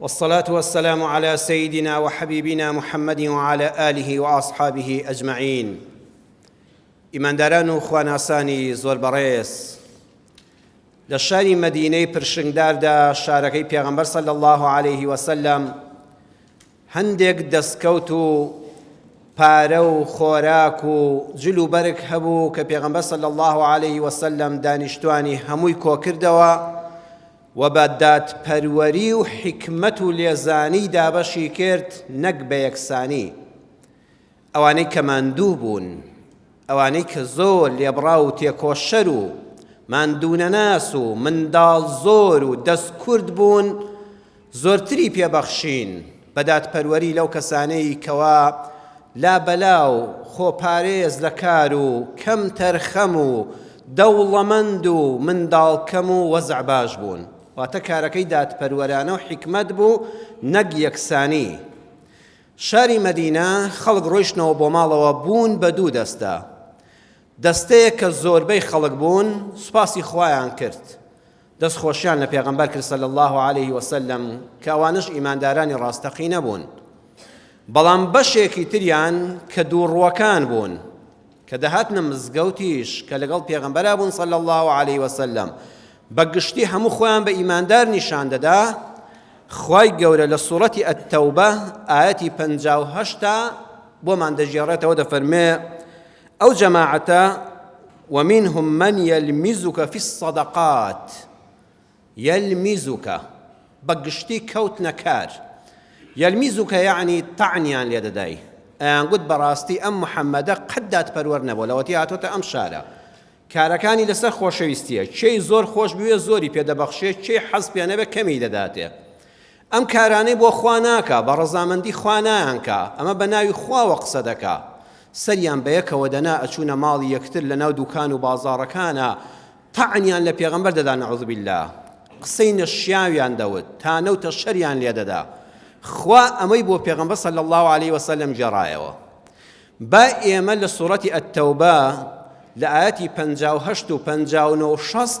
والصلاة والسلام علی سیدنا و حبیبنا محمد و علی آله و اصحابه اجمعین ئیمانداران و خواناسانی زۆر بەڕێز لە شاری مدینەی پرشنگداردا شارەکەی پێغەمبەر صلی الله عليه وسلم هەندێک دەستکەوت و پارە و خۆراک و جل و بەرگ هەبوو کە پێغەمبەر صلی الله عليه وسلم دانیشتوانی هەمووی کۆکردەوە و بە دادپەروەری و حیکمەت و لێزانی دابەشی کرد نەک بە یەکسانی ئەوانەی کە ماندوو بوون ئەوانەی کە زۆر لێبڕاو و تێکۆشەر و ماندوونەناس و منداڵ زۆر و دەست کورت بوون زۆرتری پێ بەخشین بە دادپەروەری لەو کەسانەی کەوا لابەلا و خۆپارێز لە کار و کەم تەرخەم و دەوڵەمەند و منداڵ کەم و وەزع باش بوون واتە کارەکەی دادپەروەرانە و حکمت بوو نەک یەکسانی شاری مەدینە خەڵک ڕۆیشتنەوە بۆ ماڵەوە بوون بە دوو دەستە دەستەیە کە زۆربەی خەڵک بوون سوپاسی خوایان کرد دەست خۆشیان لە پێغەمبەر کرد صلی اللە علیه وسلم کە ئەوانەش ئیماندارانی ڕاستەقینە بوون بەڵام بەشێکی تریان کە دووڕوەکان بوون کە دەهاتنە مزگەوتیش کە لەگەڵ پێغەمبەرا بوون صلی اللە علیه وسلم بە گشتی هەموو خۆیان بە ئیماندار نیشان دەدا خوای گەورە لە سوڕەتی ئەتەوبە ئاەتی پەنجا و هەشتا بۆمان دەژێڕێتەوە دەفەرمێ ئەو جەماعەتە ومنهم من یلمیزک فی الصدقات یلمیزک بە گشتی کەوتنە کار یلمیزک یعنی تەعنیان لێ دەدای ئەیانگوت بەڕاستی ئەم محەممەدە قەت دادپەروەر نەبوو لەوەتی هاتۆتە ئەم شارە کارەکانی لەسەر خۆشەویستیە چێی زۆر خۆش بوێ زۆری پێدەبەخشێ چێی حەز پێ نەبێ کەمی دەداتێ ئەم کارانەی بۆ خوا ناکا بە ڕەزامەندی خوا نایانکا ئەمە بە ناوی خواوە قسە دەکا سەریان بە یەکەوە دەنا ئەچوونە ماڵی یەکتر لە ناو دوکان و بازاڕەکانە تەعنیان لە پێغەمبەر دەدا نەعوذ باللە قسەی نەشیاویان دەوت تا نەوتە شەریان لێ دەدا خوا ئەمەی بۆ پێغەمبەر صلی الله عليه وسلم گێڕایەوە با ئێمە لە سوڕەتی ئەتەوبە لە ئاەتی 58 و 59 و 60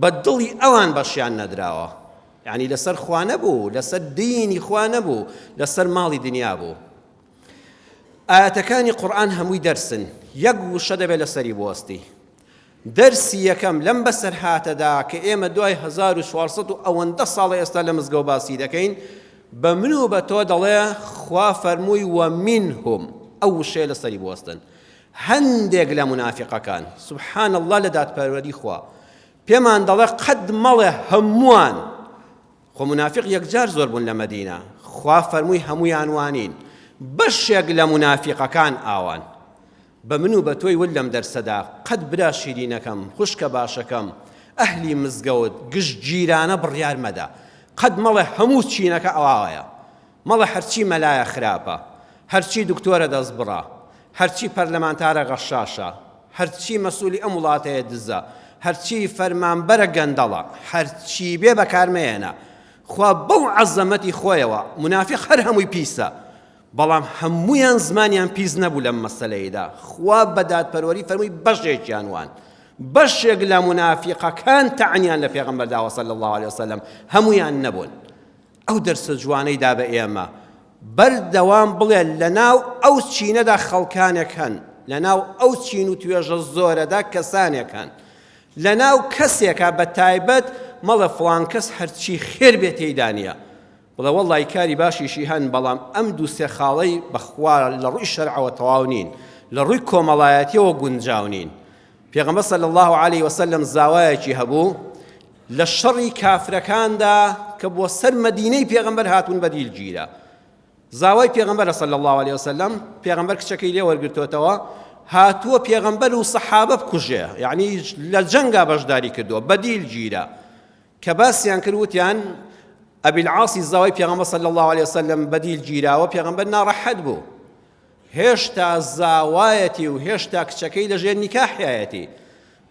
بە دڵی ئەوان بەشیان نەدراوە یعنی لەسەر خوا نەبوو لەسەر دینی خوا نەبوو لەسەر ماڵی دنیا بوو ئاەتەکانی قورآن هەمووی دەرسن یەک وشە دەبێت لەسەری بوەستی دەرسی یەکەم لەم بەسەرهاتەدا کە ئێمە دوای 1940 و ئەوەندە ساڵە ئێستا لە مزگە و باسی دەکەین بە من و بە تۆ دەڵێ خوا فەرمووی وە منهم ئەو وشەیە لەسەری بوەستن هەندێک لە مونافیقەکان سبحان اللە لە دادپەروەری خوا پێمان دەڵێ قەت مەڵێ هەمووان خۆ مونافیق یەکجار زۆر بوون لە مەدینە خوا فەرمووی هەموویان وانین بەشێک لە مونافیقەکان ئاوان بە من و بە تۆی ول لەم دەرسەدا قەت برا شیرینەکەم خوشکە باشەکەم ئەهلی مزگەوت گشت گیرانە بڕیار مەدە قەت مەڵێ هەموو چینەکە ئەواوەیە مەڵێ هەرچی مەلایە خراپە، هەرچی دکتۆرە دەستبڕە، هەرچی پەرلەمانتارە غەشاشە، هەرچی مەسولی ئەم وڵاتەیە دزە، هەرچی فەرمانبەرە گەندەڵە، هەرچی بێ بەکار مەیەنە. خوا بەو عەزەمەتی خۆیەوە، مونافیق هەر هەمووی پیسە، بەڵام هەموویان زمانیان پیس نەبوو لەم مەسەلەیدا، خوا بە دادپەروەری فەرمووی بەشێکیان وان. بەشێک لە مونافیقەکان تەعنیان لە پێغەمبەر داوە صلی اللە علیە وسلم، هەموویان نەبوون. ئەو دەرسە جوانەی دا بە ئێمە. بەردەوام بڵێ لەناو ئەو چینەدا خەڵکانێک هەن، لەناو ئەو چین و توێژە زۆرەدا کەسانێک هەن، لەناو کەسێکا بە تایبەت مەڵێ فڵان کەس هەرچی خێر بێ تێیدا نییە. بڵێ وەڵڵای کاری باشیشی هەن، بەڵام ئەم دوو سێ خاڵەی بە خوا لە ڕووی شەرعەوە تەواو نین، لە ڕووی کۆمەڵایەتییەوە گونجاو نین. پێغەمبەر صلی اللە علیە وسلم زاوایەکی هەبوو، لە شەڕی کافرەکاندا کە بۆ سەر مەدینەی پێغەمبەر هاتوون بەدیل گیرا زاوای پێغەمبەر صلی الله علیه وسلم پێغەمبەر کچەکەی لێ وەرگرتوتەوە هاتووە پێغەمبەر و سەحابە بکوژێ یعنی لە جەنگا بەشداری کردووە بەدیل گیرا کە باسیان کرد وتیان ئەبیل عاسی زاوای پێغەمبەر صلی الله علیه وسلم بەدیل گیراوە پێغەمبەر ناڕەحەت بوو هێشتا زاوایەتی و هێشتا کچەکەی لەژێر نیکاحایەتی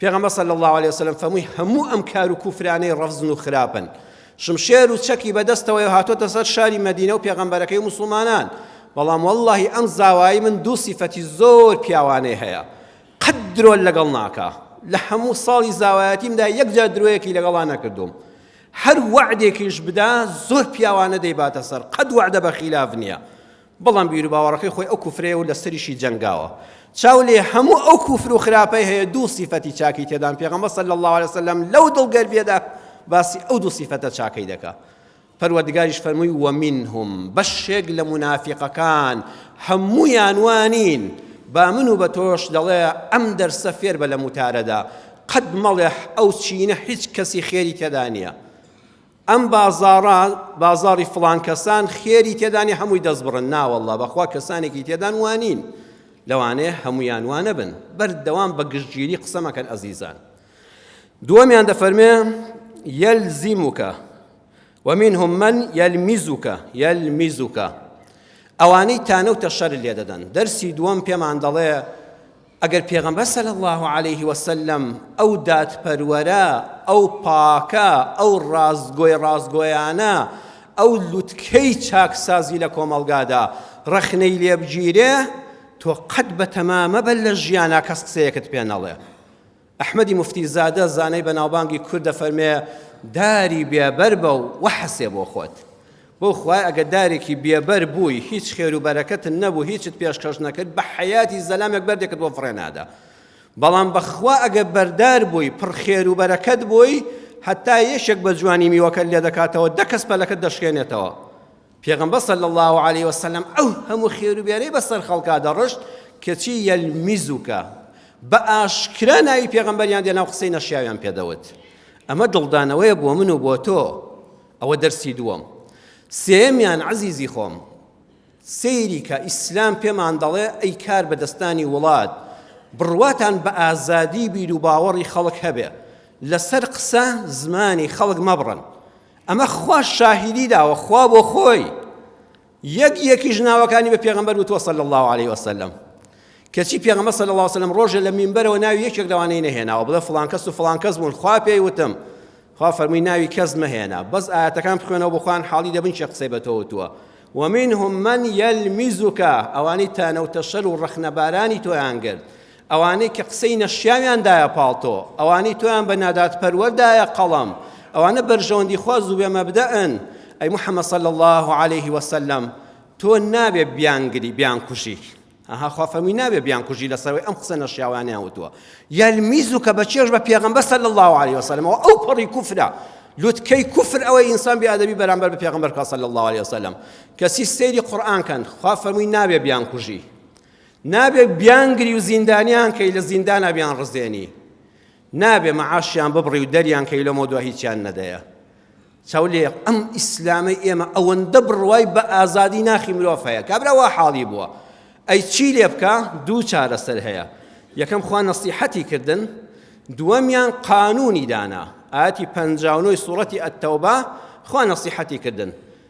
پێغەمبەر صلی اللە علیە وسلم فەرمووی هەموو ئەم کار و کوفرانەی ڕەفزن و خراپن شمشێر و چەکی بەدەستەوەی هاتۆتە سەر شاری مەدینە و پێغەمبەرەکەی و مسلمانان بەڵام واللهی ئەم زاوایی من دوو سیفەتی زۆر پیاوانەی هەیە قەت درۆ لەگەڵ ناکە لە هەموو ساڵی زاوایەتیمدا یەکجار درۆیەکی لەگەڵا نەکردوم هەر وعدێکیش بدا زۆر پیاوانە دەیباتە سەر قەت وعدە بە خلاف نییە بەڵام بیروباوەڕەکەی خۆی ئەو کوفرەیە و لەسەریشی جەنگاوە چاو لێ هەموو ئەو کوفر و خراپەی هەیە دوو سیفەتی چاکی تێدان پێغەمبەر صلی الله علیه وسلم لەو دڵ گەربیەدا باسی ئەو دوو سیفەتە چاکەی دەکا پەروەردگاریش فەرمووی ومنهم بەشێک لە منافقەکان هەموویان وانین با من و بە تۆش دەڵێ ئەم دەرسە فێر بە لە موتارەدا قەت مەڵێ ئەو چینە هیچ کەسی خێری تێدا نییە ئەم بازاڕە بازاڕی فڵان کەسان خێری تێدانی هەمووی دەست بڕن ناوەله بەخوا کەسانێکی تێدان وانین لەوانەیە هەمویان وانە بن بەردەوام بە گشتگیری قسەمەکەن ئەزیزان دووەمیان دەفەرمێ یەلزیموکە ومنهم من یەلمیزوکە یەلمیزوکە ئەوانەی تانە و تەشەر لێ دەدەن دەرسی دووەم پێمان دەڵێ ئەگەر پێغەمبەر صلی اللە علیه وسلم ئەو دادپەروەرە ئەو پاکە ئەو ڕاستگۆی ڕاستگۆیانە ئەو لوتکەی چاکسازی لە کۆمەڵگادا ڕەخنەی لێبگیرێ تۆ قەت بە تەمامە بە لە ژیانا کەس قسەیەکت پێ نەڵێ ئەحمەدی موفتی زادە زانای بەناوبانگی کورد دەفەرمێ داری بێبەر بە و وەحەسێ بۆ خۆت بۆ خوای ئەگە دارێکی بێبەر بووی هیچ خێر و بەرەکەت نەبوو هیچت پێشکەش نەکرد بە حەیاتی زەلامێک بەردێکت بۆ فڕێ نادا بەڵام بەخوا ئەگە بەردار بووی پڕ خێر و بەرەکەت بووی هەتا یەشێک بە جوانی میوەکە لێ دەکاتەوە دە کەس پەلەکەت دەشکێنێتەوە پێغەمبەر صلی اللە علیە وسلم ئەو هەموو خێروبێرەی بەسەر خەڵکا دەڕشت کەچی یەلمیزوکە بە ئاشکرا ناوی پێغەمبەریان دێنا و قسەی نەشیاویان پێدەوت ئەمە دڵدانەوەیە بۆ من و بۆ تۆ ئەوە دەرسی دووەم سێمیان عزیزی خۆم سەیری کە ئیسلام پێمان دەڵێ ئەی کار بەدەستانی وڵات بڕواتان بە ئازادی بیر و باوەڕی خەڵک هەبێ لەسەر قسە زمانی خەڵک مەبڕن ئەمە خواش شاهیدی داوە خوا بۆ خۆی یەک یەکیش ناوەکانی بە پێغەمبەر وتوە صلی الله علیه وسلم کەچی پێغەمبەر صلی الله وسلم ڕۆژێ لە مینبەرەوە ناوی یەکێک لەوانەی نەهێناوە بڵێ فڵان کەس و فڵان کەس بوون خوا پێی وتم خوا فەرمووی ناوی کەس مەهێنا بەس ئاەتەکان بخوێنەوە بخوان حاڵی دەبن چێ قسەی بە تۆ وتووە ومنهم من يلمزك ئەوانی تانە و تەشەل و ڕەخنەبارانی تۆیان گرت ئەوانەی کە قسەی نەشیاویان دایە پاڵتۆ، ئەوانەی تۆیان بە نادادپەروەر دایە قەڵەم، ئەوانە بەرژەوەندیخواز و بێ مەبدەئن، ئەی محەمەد صلی اللە علیە وسلم تۆ نابێ بیانگری بیانکوژی، ئەها خوا فەرمووی نابێ بیانکوژی لەسەرەوەی ئەم قسە نەشیاوانەیان وتووە، یلمیزوکە بە چێژ بە پێغەمبەر صلی اللە علیە وسلم ئەوە ئەو پەڕی کوفرە لوتکەی کوفر ئەوەی ئینسان بێ ئەدەبی بەرامبەر بە پێغەمبەر کە صلی اللە علیە وسلم کەسی سەیری قورئان کەن خوا فەرمووی نابێ بیانکوژی نابێ بیانگری و زیندانیان کەی لە زیندانا بیان ڕزێنی نابێ مەعاشیان ببڕی و دەریان کەی لەمە دو هیچیان نەدەیە چاولێ ئەم ئیسلامەی ئێمە ئەوەندە بڕوای بە ئازادی ناخی مرۆڤ هەیە کابرا وا حاڵی بووە ئەی چی لێ بکە دوو چارەسەر هەیە یەکەم خوا نەسیحەتی کردن دووەمیان قانونی دانا ئاتی پنجاونۆی سوڵەتی ئەتەوبا خوا نەسیحەتی کردن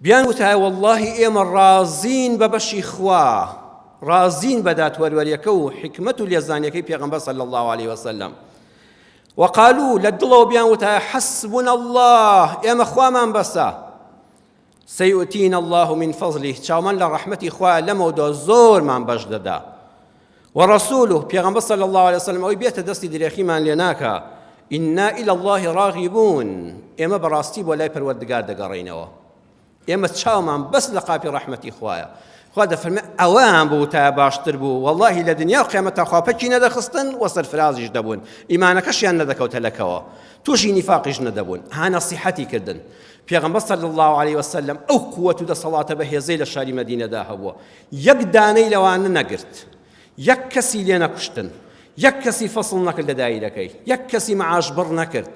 بیان وتایە وەڵڵاهی ئێمە ڕازین بە بەشی خوا ڕازین بە دادپەروەریەکە و حکمت و لێزانیەکەی پێغەمبەر صلی الله علیه وسلم وقالو لە دڵەوە بیان وتایە حەسبنا الله ئێمە خوامان بەسە سيؤتينا الله من فضله چاومان لە ڕەحمەتی خوا لەمەودا زۆرمان بەش دەدا ورسوله پیغمبر صلی الله علیه وسلم ئەوی بێتە دەستی درێخیمان لێ ناکا ئنا إلى الله راغبون ئێمە بەڕاستی بۆ لای پەروەردگار دەگەڕینەوە ئێمە چاومان بەس لە قاپی ڕەحمەتی خوایە خوا دەفەرمێ ئەوەیان بوو تا باشتر بوو واللهی لە دنیا و قیامەت تاخوا پەکی نەدەخستن و سەرفرازیش دەبوون ئیمانەکەشیان نەدەکەوتە لەکەوە تووشی نیفاقیش نەدەبوون ها نەسیحەتی کردن پێغمبەر صلی الله عليه وسلم ئەو قوت و دەسەڵاتە بەهێزەی لە شاری مدینەدا هەبووە یەک دانەی لەوانە نەگرت یەک کەسی لێ نەکوشتن یەک کەسی فەسڵ نەکرد لە دایرەکەی یەک کەسی معاش بڕ نەکرد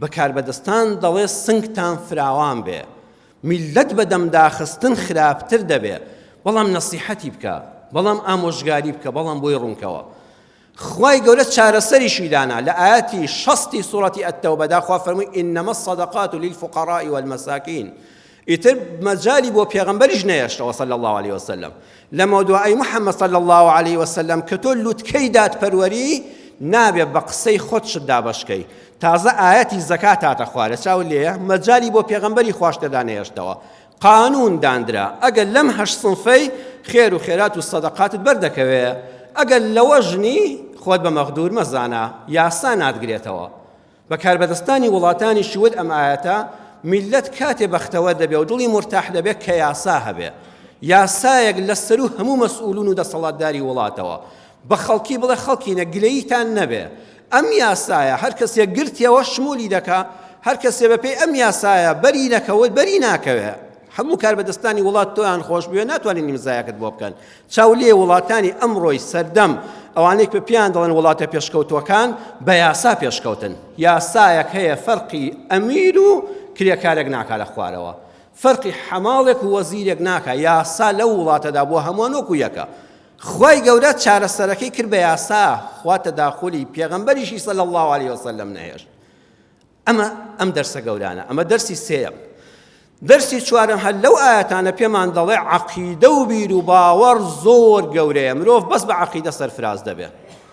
بەکاربەدەستان دەڵێ سنگتان فراوان بێ میلەت بە دەمداخستن خراپتر دەبێ بەڵام نەسیحەتی بکە بەڵام ئامۆژگاری بکە بەڵام بۆی ڕوونکەوە خوای گەورە چارەسەریشی دانا لە ئایەتی شەستی سوڕەتی ئەتەوبەدا خوا فەرمووی ئینەمە الصدقات للفقراء والمساکین ئیتر مەجالی بۆ پێغەمبەریش نەهێشتەوە صلی الله علیه وسلم لەمە دوای ئەی محەممەد صلی الله علیه وسلم کە تۆ لوتکەی دادپەروەری نابێ بە قسەی خۆت شت دابەشکەی تازە ئاەتی زەکات هاتە خوارە چاو لێە مەجای بۆ پێغمبەری خواشتەدا نێشتەوە قانون داندرا ئەگەر لەم هەشت سنفەی خێر و خێرات و سەدەقاتت بەردەکەوێ ئەگەر لەوەش نی خۆت بە مەغدور مەزانە یاسا ناتگرێتەوە بە کاربەدەستانی وڵاتانیشی وت ئەم ئاەتە میلەت کاتێ بەختەوە دەبێ و دڵی مرتاح دەبێت کە یاسا هەبێ یاسایەک لە سەر و هەموو مەسئولون و دەسەڵاتداری وڵاتەوە بە خەڵکی بڵێ خەڵکینە گلەیتان نەبێ ئەم یاسایە هەر کەسێک گرتیەوە شمولی دەکا، هەر کەسێ بە پێی ئەم یاسایە بەری نەکەوت بەری ناکەوێ. هەموو کاربەدەستانی وڵات تۆیان خۆش بوێ ناتوانین نیمزایەکت بۆ بکەن. چاو لێ وڵاتانی ئەمڕۆی سەردەم ئەوانەی پێ پێیان دەڵێن وڵاتە پێشکەوتووەکان بە یاسا پێشکەوتن. یاسایەک هەیە فەرقی ئەمیر و کرێکارێک ناکا لە خوارەوە. فەرقی حەماڵێک و وەزیرێک ناکا. یاسا لەو وڵاتەدا بۆ هەمووان وەکو یەکە. خوای گەورە چارەسەرەکەی کرد بە یاسا خوا تەداخولی پێغەمبەریشی صلی اللە علیه وسلم نەهێشت ئەمە ئەم دەرسە گەورانە ئەمە دەرسی سێیەم دەرسی چوارم هەر لەو ئاەتانە پێمان دەڵێ عقیدە و بیر و باوەڕ زۆر گەورەیە مرۆڤ بەس بە عقیدە سەرفراز دەبێت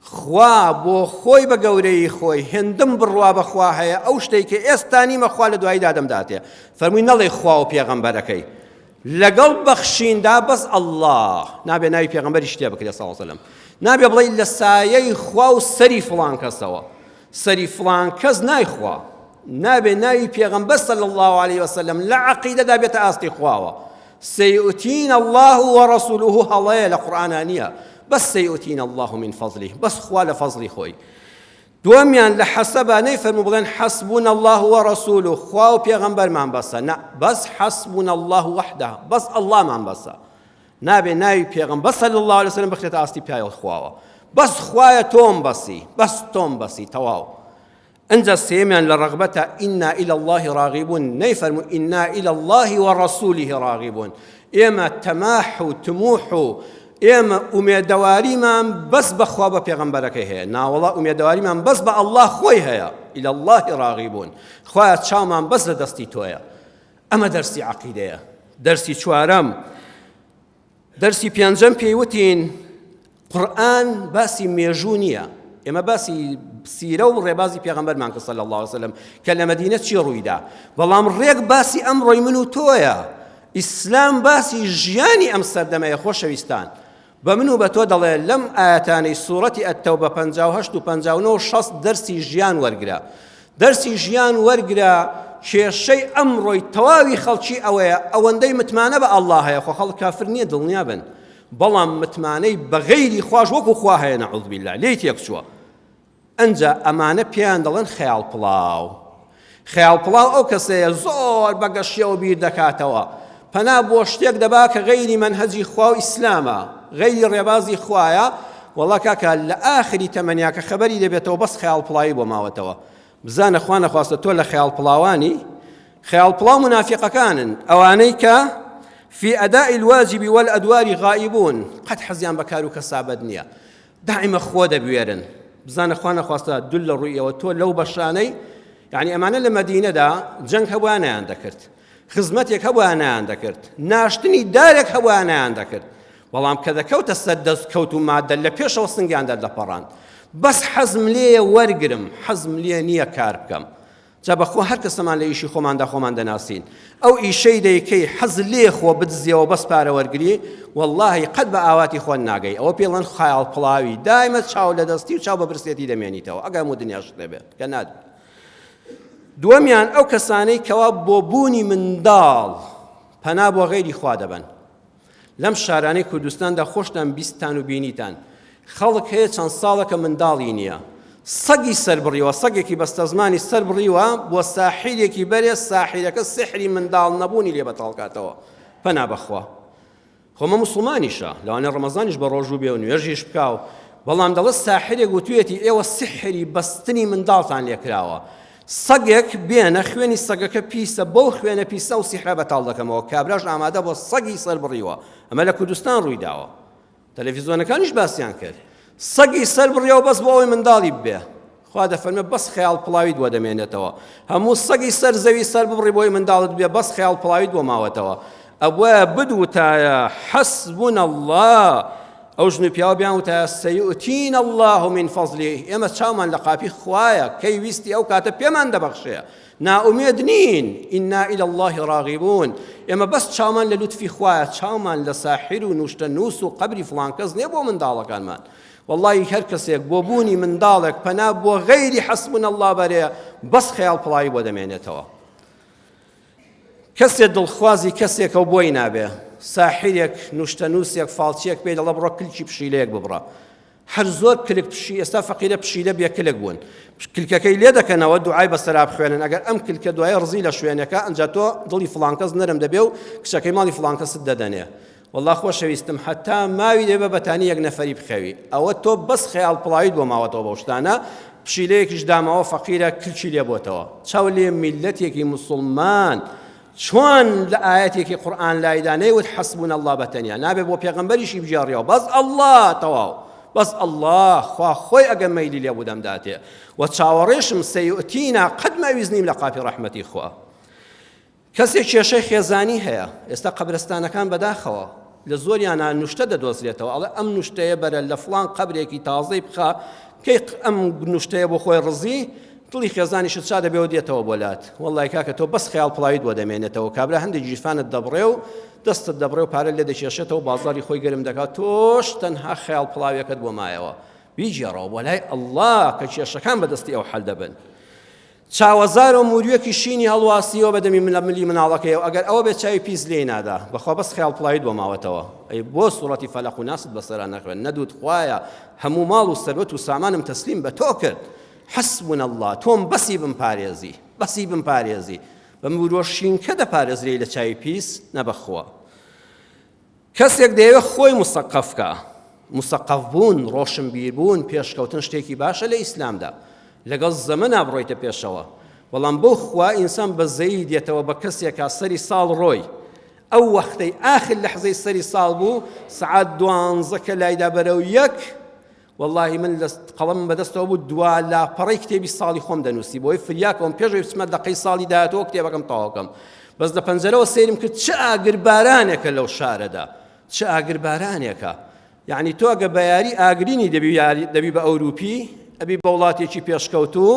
خوا بۆ خۆی بە گەورەیی خۆی هێندم بڕوا بە خوا هەیە ئەو شتەی کە ئێستا نیمە خوا لە دوایی دادەم داتێ فەرمووی نەڵێ خوا و پێغەمبەرەکەی لەگەڵ بەخشیندا بەس ئەللا نابێ ناوی پێغەمبەری شتێ بکرێت ساوسلم نابێ بڵێ لە سایەی خوا و سەری فڵان کەسەوە سەری فڵان کەس نایخوا نابێ ناوی پێغەمبەر صلی الله عليه وسلم لە عقیدەدا بێتە ئاستی خواوە سیئتین اللە و رسوله هەڵەیە لە قورئانا نیە بەس سیئتین اللە من فضله بەس خوا لە فەزڵی خۆی دووەمیان لە حەسەبا نەیفەرموو بڵێن حەسبوون اللە و رسول و خوا و پێغەمبەرمان بەسە نە بەس حەسبوون اللە وحدە بەس اللەمان بەسە نابێ ناوی پێغم بەس صلی الله عليه وسلم بخرێتە ئاستی پیاوە خواوە بەس خوایە تۆم بەسی بەس تۆم بەسی تەواو ئنجا سێیەمیان لە ڕەغبەتە ئینا الی اللە ڕاغیبون نەیفەرموو ئینا الی اللە و ڕەسوله ڕاغیبون ئێمە تەماح و تموح و ئێمە ئومێدەواریمان بەس بەخوا بە پێغەمبەرەکەی هەیە ناوەڵا ئومێدەواریمان بەس بە ئەلله خۆی هەیە إلى الله راغبون خوایە چاومان بەس لە دەستی تۆیە ئەمە دەرسی عقیدەیە دەرسی چوارەم دەرسی پێنجەم پێی وتین قورآن باسی مێژوو نییە ئێمە باسی سیرە و ڕێبازی پێغەمبەرمان کە صلی الله وسلم کە لە مدینە چی ڕوویدا بەڵام ڕێک باسی ئەم ڕۆی من و تۆیە ئیسلام باسی ژیانی ئەم سەردەمەیە خۆشەویستان بە من و بە تۆ دەڵێ لەم ئاەتانەی سوورەتی ئەتەو بە 1950 و 1960 دەرسی ژیان وەرگرە دەرسی ژیان وەرگرە کێشەی ئەمڕۆی تەواوی خەڵکی ئەوەیە ئەوەندەی متمانە بە ئەڵڵا هەیە خۆ خەڵک کافر نییە دڵنیا بن بەڵام متمانەی بە غەیری خواش وەکو خوا هەیە نەعوذ باللە لێی تێک چووە ئەنجا ئەمانە پێیان دەڵێن خەیاڵ پڵاو خەیاڵ پڵاو ئەو کەسەیە زۆر بەگەشیەوە بیر دەکاتەوە پەنا بۆ شتێک دەبا کە غەیری مەنهەجی خوا و ئیسلامە غەیری ڕێبازی خوایە وەڵا کاکە لە ئاخری تەمەنیا کە خەبەری دەبێتەوە بەس خەیاڵ پڵاوی بۆ ماوەتەوە بزانە خوا نەخواستە تۆ لە خەیاڵ پڵاوانی خەیاڵ پڵاو منافقەکانن ئەوانەی کە في أداء الواجب والأدوار غائبون قد حەزیان بە کار و کەسابەت نییە دائمە خۆ دەبوێرن بزانە خوا نەخواستە دول لە ڕوویەوە تۆ لەو بەشانەی یعنی ئەمانە لە مەدینەدا جەنگ هەبووانیان دەکرد خزمەتێک هەبوایە نایان دەکرد ناشتنی دارێک هەبوایە نایان دەکرد بەڵام کە دەکەوتە سەر دەست کەوت و مادە لە پێشەوە سنگیان دەردەپەڕاند بەس حەزم لێیە وەرگرم حەزم لێ نییە کار بکەم جا بەخۆ هەر کەسەمان لە ئیشی خۆماندا خۆمان دەناسین ئەو ئیشەی دەیکەی حەز لێ خۆ بدزیەوە بەس پارە وەرگری واللهی قەت بە ئاواتی خۆن ناگەی ئەوە پێڵەن خیاڵ پڵاوی دایمە چاو لە دەستی و چاو بە برسێتی دەمێنیتەوە ئەگەر و دنیاش دەبێت کە نادێت دووەمیان ئەو کەسانەی کەوا بۆ بوونی منداڵ پەنا بۆ غەیری خوا دەبەن لەم شارانەی کوردستاندا خۆشتان بیستان و بینیتان خەڵک هەیە چەند ساڵەکە منداڵی نییە سەگی سربڕیوە سەگێکی بەستەزمانی سربڕیوە بۆ ساحیرێکی بەرێ ساحیرەکە سحری منداڵ نەبوونی لێ بەتاڵکاتەوە پەنا بەخوا خۆ مە موسڵمانیشە لەوانە ڕەمەزانیش بە ڕۆژوو بێ و نوێژیش بکا و بەڵام دەڵێت ساحرێک وتوێتی ئێوە سحری بەستنی منداڵتان لێکراوە سەگێک بێنە خوێنی سەگەکە پیسە بەو خوێنە پیسە و سیحرە بەتاڵ دەکەمەوە کابراش ئامادە بۆ سەگی سەر بڕیوە ئەمە لە کوردستان ڕووی داوە تەلەڤیزیۆنەکانیش باسییان کرد سەگی سەر بڕیەوە بەس بۆ ئەوەی منداڵی ببێ خوا دەفەرمێ بەس خەیاڵ پڵاویت بۆ دەمێنێتەوە هەموو سەگی سەر زەوی سەر ببڕی بۆی منداڵت بێ بەس خەیاڵ پڵاویت بۆ ماوەتەوە ئەبووە بدوتایە حەسبون الله ئەو ژن و پیاوە بیان وتایە سەیئتین الله من فەزلی ئێمە چاومان لە قاپی خوایە کەی ویستی ئەو کاتە پێمان دەبەخشێ نائومێد نین ئینا إلى الله راغبون ئێمە بەس چاومان لە لوتفی خوایە چاومان لە ساحر و نوشتە نووس و قبری فڵان کەس نییە بۆ منداڵەکانمان وەڵڵاهی هەر کەسێک بۆ بوونی منداڵێک پەنا بۆ غەیری حەسبونا اللە بەرێ بەس خەیاڵ پڵاوی بۆ دەمێنێتەوە کەسێ دڵخوازی کەسێکە و بۆی نابێ ساحیرێک نوشتەنووسێک فالچێک پێی دەڵە بڕۆ کلکی پشیلەیەک ببڕە هەر زۆر کلک پشی ئێستا فەقیرە پشیلە بێ کلک بوون کلکەکەی لێ دەکەنەوە دوعای بە سەراب خوێنن ئەگەر ئەم کلکە دوای ڕزی لە شوێنەکە ئەنج تۆ دڵی فلانکەس نەرم دەبێ و کچەکەی ماڵی فلانکەست دەدەنێ وەڵا خۆشەویستم حەتا ماوی دەبە بەتانی یەک نەفەری بخەوی ئەوە تۆ بەس خەیاڵ پڵاویت بۆ ماوەتەوە بەو شتانە پشیلەیەکیش داماوە فەقیرە کلچی لێ بۆتەوە چاو لێ میلەتێکی مسلمان چۆن لە ئاەتێکی قورآن لایدا نەیوت حەسبون الله بەتەنیا نابێ بۆ پێغەمبەریشی بژێڕیەوە بەس الله تەواو بەس الله خوا خۆی ئەگە مەیلی لێ بودەم داتێ و چاوەڕێشم سەیئتینا قەت مەویزنیم لە قاپی ڕەحمەتی خوا کەسێک کێشەی خێزانی هەیە، ئێستا قەبرستانەکان بەداخەوە لە زۆریانا نوشتە دەدۆزرێتەوە ئەڵێ ئەم نوشتەیە بەرە لە فڵان قەبرێکی تازەی بخە کەی ئەم نوشتەیە بۆ خۆی ڕزی دڵی خێزانیشت شا دەبێەوە دێتەوە بۆ لات وەڵی کاکە تۆ بەس خیال پڵاویت بۆ دەمێنێتەوە کابرا هەندێک گیرفانت دەبڕێ و دەستت دەبڕێ و پارە لێ دەکێشێتەوە بازاری خۆی گەرم دەکات تۆش تەنها خیال پڵاوێکت بۆ مایەوە بیجێڕەوە بۆ لای ئەلله کە کێشەکان بەدەستی ئەو حل دەبن چاوەزار و موریەکی شینی هەڵواسیەوە بە دەمی لە ملی مناڵەکەیەوە ئەگەر ئەوە بێت چاوی پیس لێی نادا بەخوا بەس خیاڵ پڵاویت بۆ ماوەتەوە ئەی بۆ سوڕەتی فەلەق و ناست بەسەرا نەخوێن نەدوت خوایە هەموو ماڵ و سەروەت و سامانم تەسلیم بە تۆ کرد حسبنا الله تۆم بەسی بم پارێزی بەسی بم پارێزی بە مروە شینکە دەپارێزرێی لە چاوی پیس نەبەخوا کەسێک دەیەوێت خۆی مسەقەف بکا، مسەقەف بوون، ڕۆشنبیر بوون، پێشکەوتن شتێکی باشە لە ئیسلامدا، لەگەڵ زەمەنا بڕۆیتە پێشەوە، بەڵام بۆ خوا ئینسان بە زەیی دێتەوە بە کەسێکا سەری ساڵ ڕۆی، ئەو وەختەی ئاخر لەحزەی سەری ساڵ بوو سەعات دوانزە کە لایدا بەرەو یەک وەڵاهی من لە قەڵەمم بەدەستەوە بوو دوا لاپەڕەی کتێبی ساڵی خۆم دەنووسی بۆی فریاکەوەم پێشەوەی بچمە دەقەی ساڵی داهاتەوە کتێبەکەم تەواوکەم بەس لە پەنجەرەوە سێرم کرد چ ئاگر بارانێکە لەو شارەدا چ ئاگر بارانێکە یعنی تۆ گە بە یاری ئاگرینی دەبی یاری دەبی بە ئەوروپی ئەبی بە وڵاتێکی پێشکەوتوو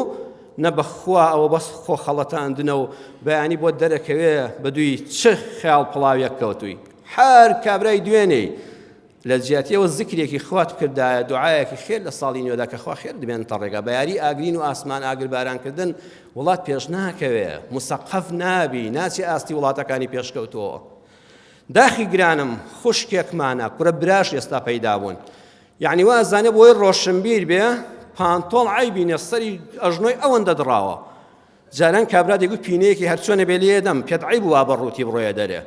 نە بەخوا ئەوە بەس خۆ خەڵەتاندنە و بەیانی بۆ دەرەکەوێ بە دووی چ خیاڵ پڵاویەک کەوتووی هەر کابرای دوێنێی لە جیاتی ئەوە زکرێکی خوات بکردایە، دوعایەکی خێر لە ساڵی نوێدا کە خوا خێرت بێنتە ڕێگا، بە یاری ئاگرین و ئاسمان ئاگر باران کردن وڵات پێش ناکەوێ، مسەقەف نابی، ناچی ئاستی وڵاتەکانی پێشکەوتوو. داخی گرانم خوشکێکمانە کورە براش ئێستا پەیدا بوون یعنی وا ئەزانێ بۆی ڕۆشنبیر بێ پانتۆڵ عیبی نیە سەری ئەژنۆی ئەوەندە دڕاوە جاران کابرا دەگوت پینەیەکی هەرچۆنە بێ لێ دەم پێت عیب وا بە ڕووتی بڕۆیە دەرێ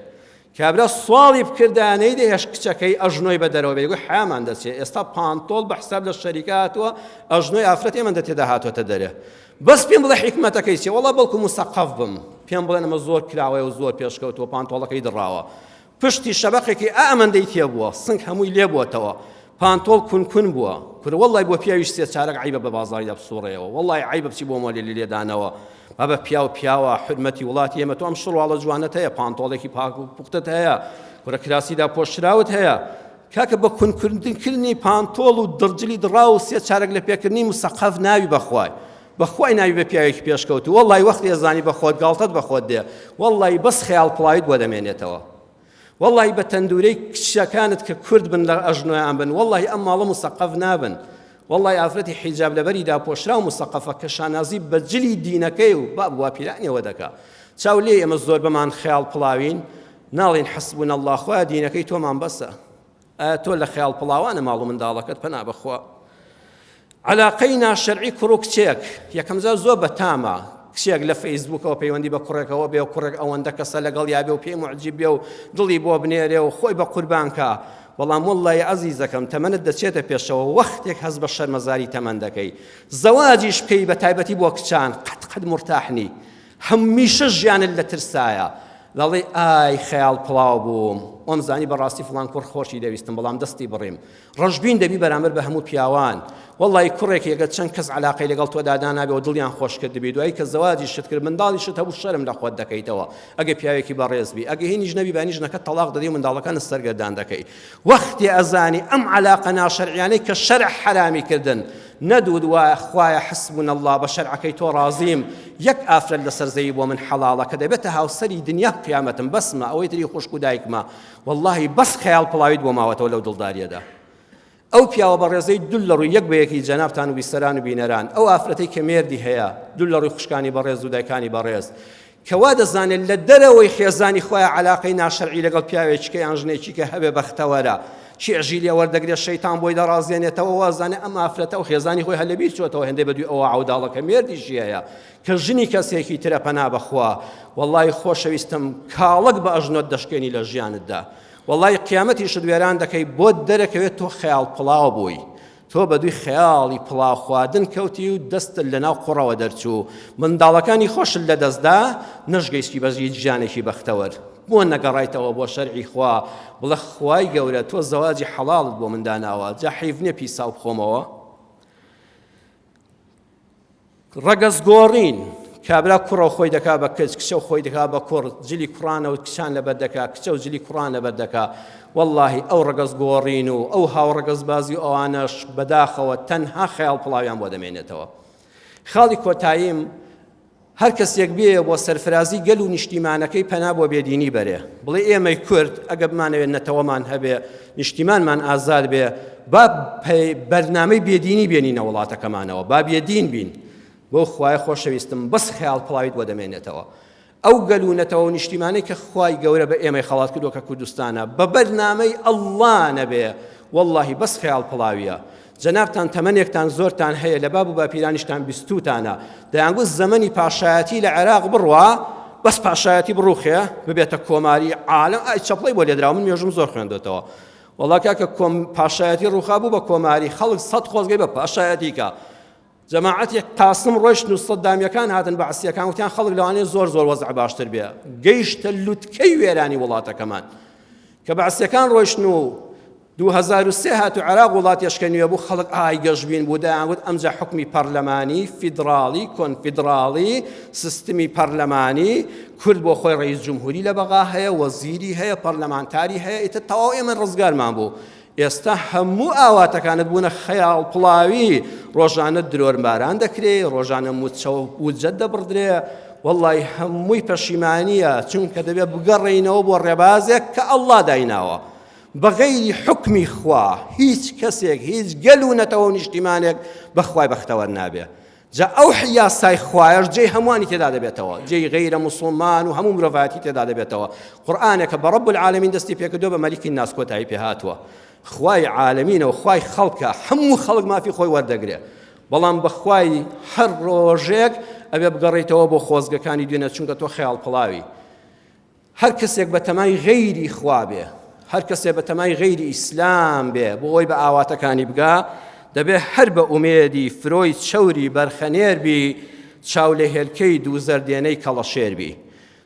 کابرا سواڵی بکردا نەی دەهێش کچەکەی ئەژنۆی بە دەرەوە بێگو حامان دەچێت ئێستا پانتۆڵ بە حساب لە شەریکە هاتووە ئەژنۆی ئافرەت ئێمە دە تێدا هاتوۆتە دەرێ بەس پێم بڵێ حیکمەتەکەی چێ وڵا بەڵکو مسەقەف بم پێم بڵێن ئەمە زۆر کراوەیە و زۆر پێشکەوتووە پانتۆڵەکەی دڕاوە پشتی شەبەقێکی ئا ئەمەندەی تێبووە سنگ هەمووی لێبووەتەوە پانتۆڵ کون کون بووە کورە وەڵی بۆ پیاویش سێ چارەک عیبە بە بازاریدا بسوڕەیەوە وەڵی عیبە بچی بۆ مۆلی لە لێدانەوە بابە پیاو پیاوە حرمەتی وڵاتی ئێمە تۆ ئەم شڕواڵە جوانت هەیە پانتۆڵێکی پاک و پوختت هەیە کورە کراسیدا پۆشراوت هەیە کاکە بە کونکردنکردنی پانتۆڵ و دڕجلی دڕا و سێ چارەک لە پێکردنی مسەقەف ناوی بەخوای بەخوای ناوی بە پیاوێکی پێشکەوتو وەڵی وەختی ئەزانی بە خۆت گاڵتەت بە خۆت دێ وەڵی بەس خەیاڵ پڵاویت بۆ دەمێنێتەوە وەڵی بە تەندورەی کچەکانت کە کورد بن لە ئەژنۆیان بن وەڵی ئەم ماڵە مسەقەف نابن وەڵی ئافرەتی حیجاب لەبەری داپۆشرا و مسەقەفە کە شانازی بە جلی دینەکەی و با بوا پیرانەوە دەکا چاو لێ ئێمە زۆر بەمان خەیاڵ پڵاوین ناڵین حەسبون الله خۆیان دینەکەی تۆمان بەسە ئایا تۆ لە خەیاڵ پڵاوانە ماڵ و منداڵەکەت پەنا بەخوا علاقەی ناشەرعی کوڕ و کچێک یەکەمجار زۆر بەتامە کچێک لە فەیسبوکەوە پەیوەندی بە کوڕێکەوە بێ و کوڕێک ئەوەندە کەسە لەگەڵ یابێ و پێی معجیب بێ و دڵی بۆ بنێرێ و خۆی بە قوربانکە بەڵام وڵی عزیزەکەم تەمەنت دەچێتە پێشەوە وەختێک هەز بە شەرمەزاری تەمەندەکەی زەواجیش بکەی بە تایبەتی بۆ کچان قەت قەت مرتاحنی هەمیشە ژیانت لە ترسایە دەڵێی ئای خەیاڵ پڵاو بووم وەم زانی بەڕاستی فڵان کوڕ خۆشی دەویستم بەڵام دەستی بڕیم ڕەشبین دەبی بەرامبەر بە هەموو پیاوان وەڵی کوڕێک یەگە چەند کەس علاقەی لەگەڵ تۆ دادانابێ و دڵیان خۆشکرد دەبی دوایی کە زەواجی شت کرد منداڵی شت هەبوو شەرم لە خۆت دەکەیتەوە ئەگە پیاوێکی بەڕێزبی ئەگە هینیش نەبی بانیش نەکە تەلاق دەدی و منداڵەکان سەرگەردان دەکەی وەختێ ئەزانی ئەم عەلاقە ناشەرعیانەی کە شەرع حەرامی کردن نەدوود وایە خوایە حسبون اللە بە شەرعەکەی تۆ ڕازیم یەک ئافرەت لەسەر زەوی بۆ من حەڵاڵە کە دەبێتە هاوسەری دنیا قیامەتم بەسمە ئەوەی تری خوشک و دایکمە واللهی بەس خەیاڵ پڵاویت بۆ ماوەتەوە لەو دڵداریەدا ئەو پیاوە بەڕێزەی دول لە ڕووی یەک بە یەکی جەنابان و بیسەران و بینەران ئەو ئافرەتی کە مێردی هەیە دول لە ڕووی خوشکانی بەڕێز و دایکانی بەڕێز کە وا دەزانێت لە دەرەوەی خێزانی خۆیان عەلاقەی ناشەرعی لەگەڵ پیاوێکیکە یان ژنێکیکە هەبێ بەختەوەرە، چێژی لێ وەردەگرێ، شەیتان بۆی دەڕازێنێتەوە، وا دەزانێ ئەم ئافرەتە و خێزانی خۆی هەر لەبیر چۆتەوە هێندەی بەدووی ئەوە عەوداڵە کە مێردیشی هەیە کە ژنی کەسێکی ترە پەنا بەخوا وەڵڵاهی خۆشەویستم کاڵەک بە ئەژنۆت دەشکێنی لە ژیانتدا وەڵڵاهی قیامەتیشت وێران دەکەی بۆت دەرەکەوێت تۆ خەیاڵ پڵاو بووی تۆ بەدووی خەیاڵی پڵاو خواردن کەوتی و دەستت لەناو قوڕەوە دەرچوو، منداڵەکانی خۆشت لەدەستدا، نەشگەیستی بە هیچ ژیانێکی بەختەوەر. بۆ نەگەڕایتەوە بۆ شەرعی خوا، بڵێ خوای گەورە تۆ زەواجی حەڵاڵت بۆ من داناوە، جا حەیف نییە پیساو بخۆمەوە؟ ڕەگەز گۆڕین کابرا کوڕە خۆی دەکا بە کچ کچە خۆی دەکا بە کوڕ جلی کوڕانە و کچان لەبەر دەکا کچە و جلی کوڕان لەبەر دەکا واللهی ئەو ڕگەز گۆڕین و ئەو هاوڕگەز بازی ئەوانەش بەداخەوە تەنها خەیاڵ پڵاویان بۆ دەمێنێتەوە خاڵی کۆتاییم هەر کەسێک بێیە بۆ سەرفرازی گەل و نیشتیمانەکەی پەنا بۆ بێدینی بەرێ بڵێ ئێمەی کورد ئەگە بمانەوێت نەتەوەمان هەبێ نیشتیمانمان ئازاد بێ با بەرنامەی بێدینی بێنینە وڵاتەکەمانەوە با بێدین بین بۆ خوای خۆشەویستم بەس خەیاڵ پڵاویت بۆ دەمێنێتەوە ئەو گەل و نەتەوە نیشتیمانەی کە خوای گەورە بە ئێمەی خەڵات کردووە کە کوردستانە بە بەرنامەی ئەڵڵا نەبێ واللهی بەس خەیاڵ پڵاویە جەنابتان تەمەنێکتان زۆرتان هەیە لە باب و باپیرانیشتان بیستوتانە دەیانگوت زەمەنی پاشایەتی لە عێراق بڕوا بەس پاشایەتی بڕوخێ ببێتە کۆماری عالم ئای چەپڵی بۆ لێدراوە من مێژوم زۆر خوێندێتەوە وڵا کاکە کۆم پاشایەتی ڕوخا بوو بە کۆماری خەڵک سەد خۆزگەی بە پاشایەتیکە جەماعەتی قاسم ڕۆشتن و سەدامیەکان هاتن بەعسیەکان وتیان خەڵک لەوانەیە زۆر زۆر وەزع باشتر بێ گەیشتە لوتکەی وێرانی وڵاتەکەمان کە بەعسیەکان ڕۆشتن و 2023 هاتو عراق وڵات یشکە نوێ بوو خەڵک ئای گەشببین بوو دەیانگوت ئەمجا حکومی پەرلەمانی فیدراڵی کۆنفیدراڵی سیستمی پەرلەمانی کورد بۆ خۆی ڕئیس جمهوری لە بەغا هەیە وەزیری هەیە پەرلەمانتاری هەیە ئیتە تەواو ئێمە ڕزگارمان بوو ئێستا هەموو ئاواتەکانت بوونە خەیاڵ پڵاوی ڕۆژانە درۆر باران دەکرێ ڕۆژانە موچەوە وجەت دەبڕدرێ واللهی هەمووی پەشیمانیە چونکە دەبێت بگەڕێینەوە بۆ ڕێبازێک کە ئەللا دایناوە بەغەیری حکمی خوا هیچ کەسێک هیچ گەل و نەتەوە و نیشتیمانێک بەخوای بەختەوەر نابێ جا ئەو یاسای خوایەش جێی هەمووانی تێدا دەبێتەوە جێی غیرە موسڵمان و هەموو مرۆڤایەتی تێدا دەبێتەوە قورآانێکە بە ڕب العالمین دەستی پێکردو بە مەلیکی ناسکۆتایی پێ هاتووە خوای عالمینە و خوای خەڵکە هەموو خەڵک مافی خۆی وەردەگرێ بەڵام بەخوای هەر ڕۆژێک ئەبێ بگەڕیتەوە بۆ خۆزگەکانی دوێنە چونکە تۆ خەیاڵ پڵاوی هەر کەسێک بە تەمای غەیری خوا بێ هەر کەسێ بە تەمای غەیری ئیسلام بێ بۆ ئەوی بە ئاواتەکانی بگا دەبێ هەر بە ئومێدی فرۆی چەوری بەرخەنێر بی چاو لە هێلکەی دوو زەردێنەی کەڵەشێر بی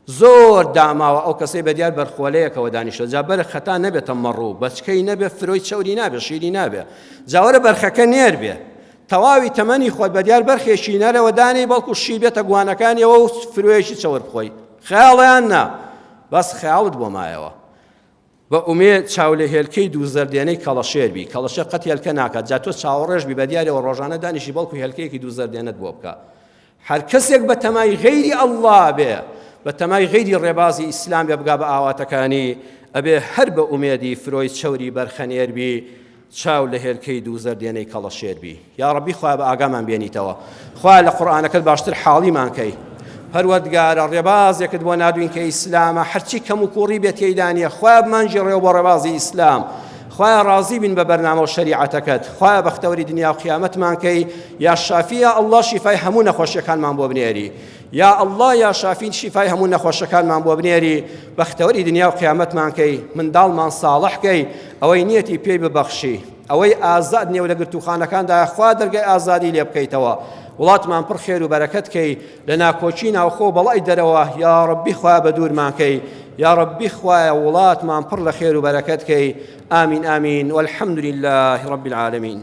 زۆر داماوە ئەو کەسەی بە دیار بەرخۆلەیەکەوە دانیشە جا بەرە خەتا نەبێتە مەڕوو بەچکەی نەبێ فرۆی چەوری نابێ شیری نابێ جاوەرە بەرخەکە نێر بێ تەواوی تەمەنی خۆت بە دیار بەرخێکی نەرەوە دانێ بەڵکو شی بێتە گوانەکانیەوە و فرۆیەکی چەور بخۆی خەیاڵیان نا بەس خەیاڵت بۆ مایەوە. بە ئومێد چاو لە هێلکەی دوو زەردێنەی کەڵەشێر بی، کەڵەشێر قەت هێلکە ناکات، جا تۆ چاوەڕێش بی بە دیارەوە ڕۆژانە دانیشی بەڵکو هێلکەیەکی دوو زەردێنەت بۆ بکا. هەر کەسێک بە تەمای غەیری ئەڵڵا بێ، بە تەمای غەیری ڕێبازی ئیسلام بێ بگا بە ئاواتەکانی، ئەبێ هەر بە ئومێدی فرۆی چەوری بەرخەنێر بی، چاو لە هێلکەی دوو زەردێنەی کەڵەشێر بی یاڕەبی خوا بە ئاگامان بێنیتەوە خوا لە قورآانەکەت باشتر حاڵیمان کەی پەروەردگارە ڕێبازێکت بۆ نادوین کە ئیسلامە هەرچی کەم و کوڕی بێت تێدانە خوا بمانجی ڕێو بۆ ڕێبازی ئیسلام خوا ڕازی بین بە بەرنامە و شریعەتەکەت خوا بەختەوەری دنیا و قیامەتمان کەی یا شافیە ئەلله شیفای هەموو نەخۆشیەکانمان بۆ بنێری یا اللە یا شافی شیفای هەموو نەخۆشەکانمان بۆ بنێری بەختەوەری دنیا و قیامەتمان کەی منداڵمان ساڵح کەی ئەوەی نیەتی پێی ببەخشی ئەوەی ئازاد نێو لە گرتوخانەکاندا خوا دەرگای ئازادی لێ بکەیتەوە وڵاتمان پڕ خێر و بەرەکەت کەی لە ناکۆکی ناوخۆ بەڵای دەرەوە یا ڕبی خوا بە دوورمان کەی یا ڕبی خوایە وڵاتمان پڕ لە خێر و بەرەکەت کەی ئامین ئامین والحمد لله رب العالمین